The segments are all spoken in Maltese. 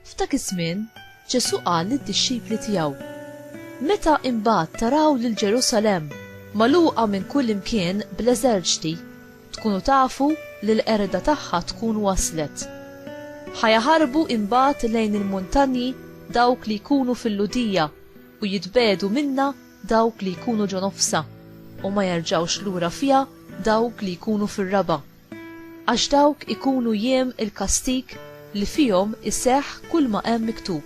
F'dak iż-żmien, Ġesù qal lid-dixxipli tiegħu, Meta imbagħad taraw lil Ġerusalemm magħluqa minn kullimkien bl-eżerċti, Tkunu tafu li l-qerda tagħha tkun waslet. Ħa jaħarbu imbagħad lejn il-muntanji dawk li jkunu fil-Lhudija u jitbegħdu minnha dawk li jkunu ġo nofsha, u ma jerġgħux lura fiha dawk li jkunu fir-raba'. Għax dawk ikunu jiem il-kastig li fihom iseħħ kulma hemm miktub.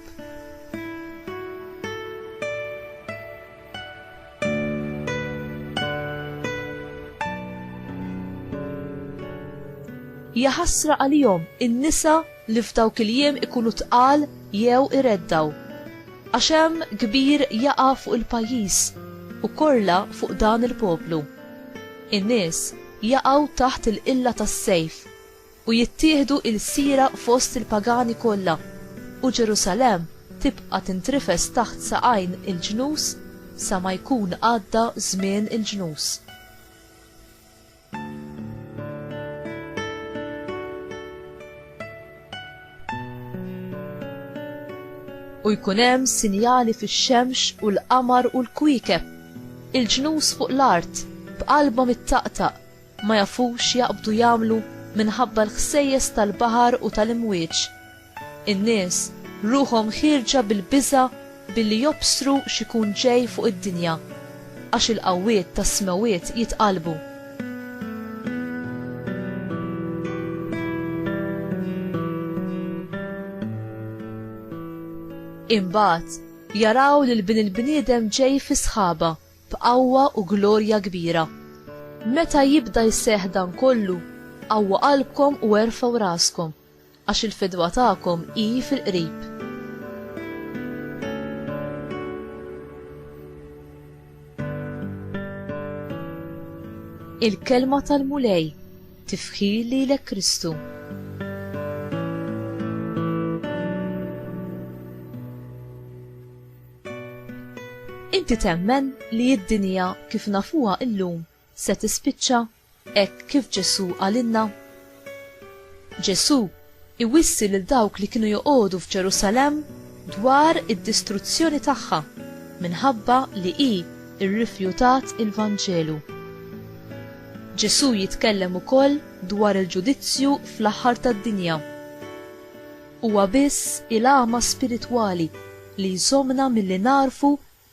Ja ħasra għalihom in-nisa li f'dawk il-jiem ikunu tqal jew ireddaw. Għax hemm kbir jaqa' fuq il-pajjiż u korla fuq dan il-poplu. In-nies jaqgħu taħt il-qilla tas-sejf u jittieħdu ilsira fost il-pagani kollha, u Ġerusalemm tibqa' tintrifes taħt saqajn il-ġnus sa ma jkun għadda żmien il-ġnus. U jkun hemm sinjali fix-xemx u l-qamar u l-kwiekeb, il-ġnus fuq l-art b'qalbhom ittaqtaq, ma jafux x'jaqbdu jagħmlu minħabba l-ħsejjes tal-baħar u tal-imwieġ. In-nies ruħhom ħierġa bil-biża' billi jobsru x'ikun ġej fuq id-dinja, għax il-qawwiet tas-smewwiet jitqallbu. Imbagħad jaraw lil Bin il-bniedem ġej fis-sħaba. b'qawwa u glorja kbira. Meta jibda jseħħ dan kollu, qawwu qalbkom u erfgħu raskom, għax il-fidwa tagħkom hi fil-qrib. Il-Kelma tal-Mulej, Tifħir lilek Kristu. Inti temmen li d-dinja kif nafuha illum se tispiċċa hekk kif Ġesù qalilna? Ġesù iwissi lil dawk li kienu joqogħdu f'Ġerusalemm dwar id-distruzzjoni tagħha minħabba li hi rrifjutat il-Vanġelu. Ġesù jitkellem ukoll dwar il-ġudizzju fl-aħħar tad-dinja. Huwa biss il-għama spiritwali li jżommna milli nagħrfu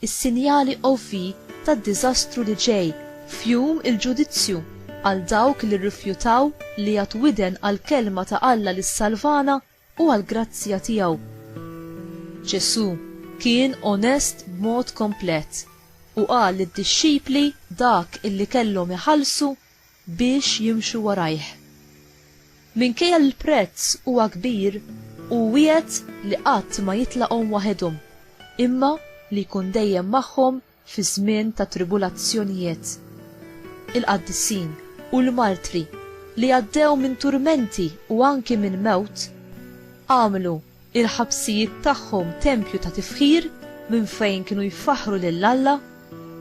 s-sinjali ovvji tad-diżastru li ġej, f'Jum il-Ġudizzju, għal dawk li rrifjutaw li jagħtu widen għall-kelma ta' Alla li ssalvana u għall-grazzja tiegħu. Ġesù kien onest b'mod komplet u qal lid-dixxipli dak illi kellhom iħallsu biex jimxu warajh. Minkejja li l-prezz huwa kbir, hu wiegħed li qatt ma jitlaqhom waħedhom, imma li jkun dejjem magħhom fi żmien ta' tribulazzjonijiet. Il-qaddisin u l-martri li għaddew minn turmenti u anki minn mewt, għamlu il-ħabsijiet tagħhom tempju ta' tifħir minn fejn kienu jfaħħru lil Alla,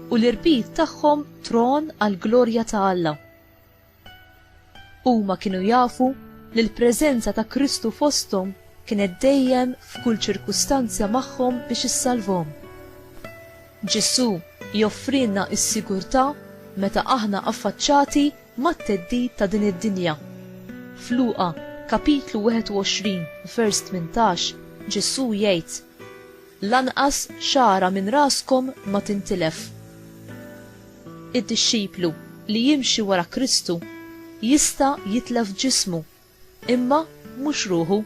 u l-irbit tagħhom tron għall-glorja ta' Alla. Huma kienu jafu li l-preżenza ta' Kristu fosthom kienet dejjem f'kull ċirkustanzja magħhom biex issalvhom. Ġesù joffrilna s-sigurtà meta aħna affaċċati mat-theddid ta' din id-dinja. F'Luqa, kapitlu 21, vers 18, Ġesù jgħid, Lanqas xagħra minn raskom ma tintilef. Id-dixxiplu li jimxi wara Kristu jista' jitlef ġismu Imma mhux ruħu.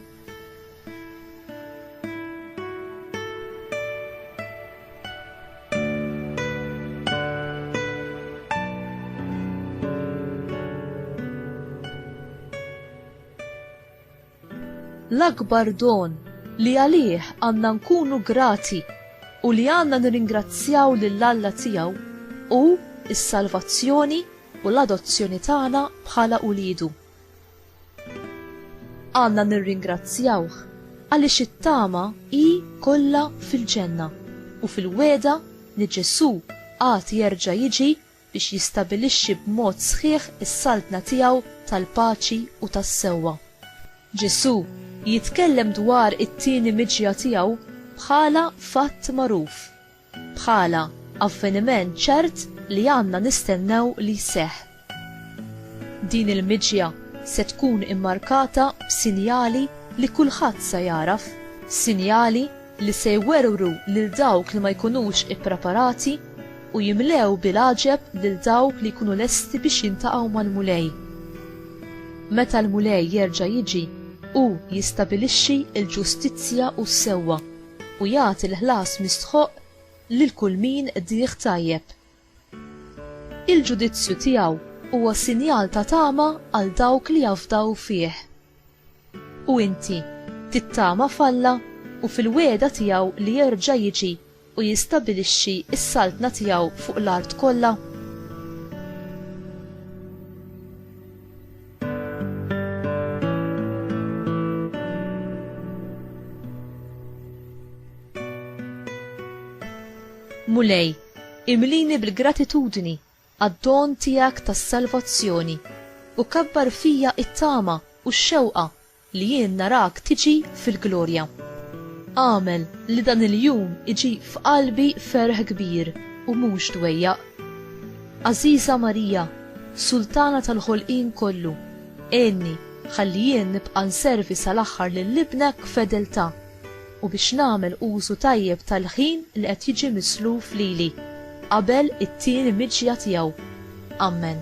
l-akbar don li għalih għanna nkunu grati u li għanna nirringrazzjaw lill-Alla tiegħu u s-salvazzjoni u l-adozzjoni tagħna bħala ulidu. Għandna nirringrazzjawh għaliex it-tama hi kollha fil-ġenna u fil-wegħda li Ġesù għad jerġa' jiġi biex jistabilixxi b'mod sħiħ is-Saltna tiegħu tal-paċi u tas-sewwa. Ġesù jitkellem dwar it-tieni miġja tiegħu bħala fatt magħruf. bħala avveniment ċert li għandna nistennew li jseħħ. Din il-miġja se tkun immarkata b'sinjali li kulħadd se jagħraf, sinjali li se jwerwru lil dawk li ma jkunux ippreparati u jimlew bil-għaġeb lil dawk li jkunu lesti biex jiltaqgħu mal-Mulej. Meta l-Mulej jerġa' jiġi, hu jistabilixxi l-ġustizzja u s-sewwa. u jagħti l-ħlas mistħoqq lil kull min qdih tajjeb. Il-ġudizzju tiegħu huwa sinjal ta' tama għal dawk li jafdaw fih. U inti, tittama f'Alla u fil-wegħda tiegħu li jerġa' jiġi u jistabilixxi s-saltna tiegħu fuq l-art kollha? Mulej, imlini bil-gratitudni għad-don tiegħek tas-salvazzjoni u kabbar fija it-tama u x-xewqa Li jien narak tiġi fil-glorja. Agħmel li dan il-jum iġib f'qalbi ferħ kbir u mhux dwejjaq. Għażiża Marija, Sultana tal-ħolqien kollu, għinni ħalli jien nibqa' nservi sal-aħħar lil Ibnek b'fedeltà u biex nagħmel użu tajjeb tal-ħin li qed jiġi misluf lili qabel it-tieni miġja tiegħu. Ammen.